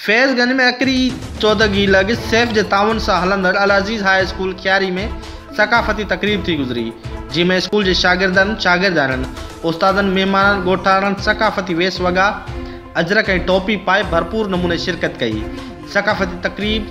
فيض گنج ۾ اڪري چودڳي لڳ سيف جي تعاون سان هلندڙ العزيز هاء اسڪول کياري ۾ ثقافتي تقريب ٿي گذري جنهن ۾ اسڪول جي شاگردن شاگردياڻين استادن مهمانن ڳوٺاڻن ثقافتي ويس وڳا اجرڪ ۽ ٽوپي پائي ڀرپور نموني شرڪت ڪئي ثقافتي تقريب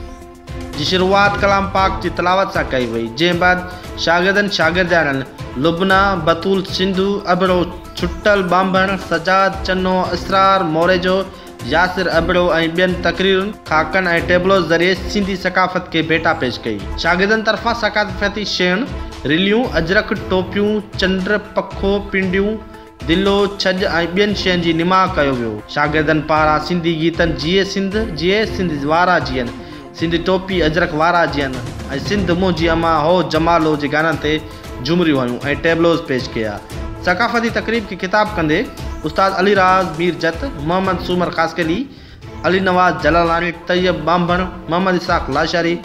جي شروعات ڪلام پاڪ جي تلاوت سان ڪئي وئي، جنهن بعد شاگردن شاگردياڻين لبنه، بتول، سنڌو، ابڙو، ڇٽل، ٻانڀڻ، سجاد، چنو، اسرار، موريجو، ياسر، ابڙو ۽ ٻين تقريرن، خاڪن ۽ ٽيبلوز ذريعي سنڌي ثقافت کي ڀيٽا پيش ڪئي. شاگردن طرفان ثقافتي شين، رليون، اجرڪ، ٽوپيون، چنڊ، پکو، پنڊيون، دلو، ڇڄ ۽ ٻين شين جي نماء ڪيو ويو. شاگردن پاران سنڌي گيتن جيئي سنڌ، جيئي سنڌ وارا جيئن، سنڌ ٽوپي اجرڪ وارا جيئن ۽ سنڌ منهنجي امان هو جمالو جي گانن تي جهومريون هنيون ۽ ٽيبلوز پيش ڪيا. ثقافتي تقريب کي خطاب ڪندي استاد علي راز، مير جت، محمد سومر خاصخيلي، علي نواز جلالاني، طيب ٻانڀڻ، Muhammad Ishaq Lashari,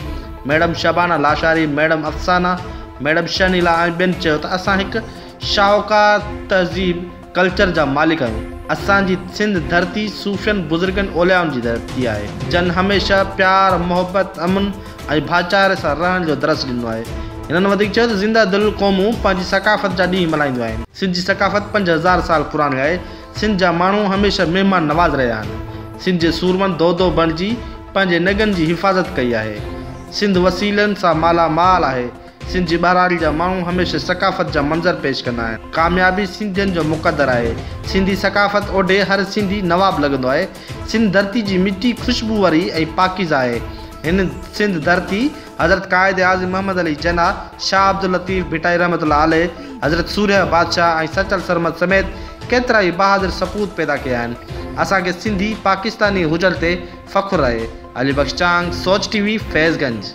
madam Shabana Lashari, madam Afsana, madam Shehnila ۽ ٻين چيو ته اسان هڪ شاهوڪار تهذيب، ڪلچر جا مالڪ آهيون. اسان جي سنڌ ڌرتي صوفين، بزرگن، اوليائن جي ڌرتي آهي، جن هميشه پيار، محبت، امن ۽ ڀائچاري سان رهڻ جو درس ڏنو آهي. هنن وڌيڪ چيو ته زنده دل قومون پنهنجي ثقافت جا ڏينهن ملهائينديون آهن. سنڌ جي ثقافت پنج هزار سال پراڻي آهي، سنڌ جا ماڻهو هميشه مهمان نواز رهيا آهن. سنڌ جي سورمن دودو بڻجي پنهنجي نگن جي حفاظت ڪئي آهي. سنڌ وسيلن سان مالا مال آهي. سنڌ جي ٻهراڙي جا ماڻهو هميشه ثقافت جا منظر پيش ڪندا آهن. ڪاميابي سنڌين جو مقدر آهي. سنڌي ثقافت اوڍي هر سنڌي نواب لڳندو آهي. سنڌ ڌرتي جي مٽي خوشبو واري ۽ پاڪيزه آهي. هن سنڌ ڌرتي. حضرت قائد اعظم محمد علي جناح، شاهه عبداللطيف ڀٽائي رحمة الله عليه، حضرت سورهيه بادشاهه ۽ سچل سرمد سميت ڪيترائي بهادر سپوت پيدا ڪيا آهن. اسان کي سنڌي پاڪستاني هجڻ تي فخر آهي. علي بخش چانگ، سوچ ٽي وي، فيض گنج.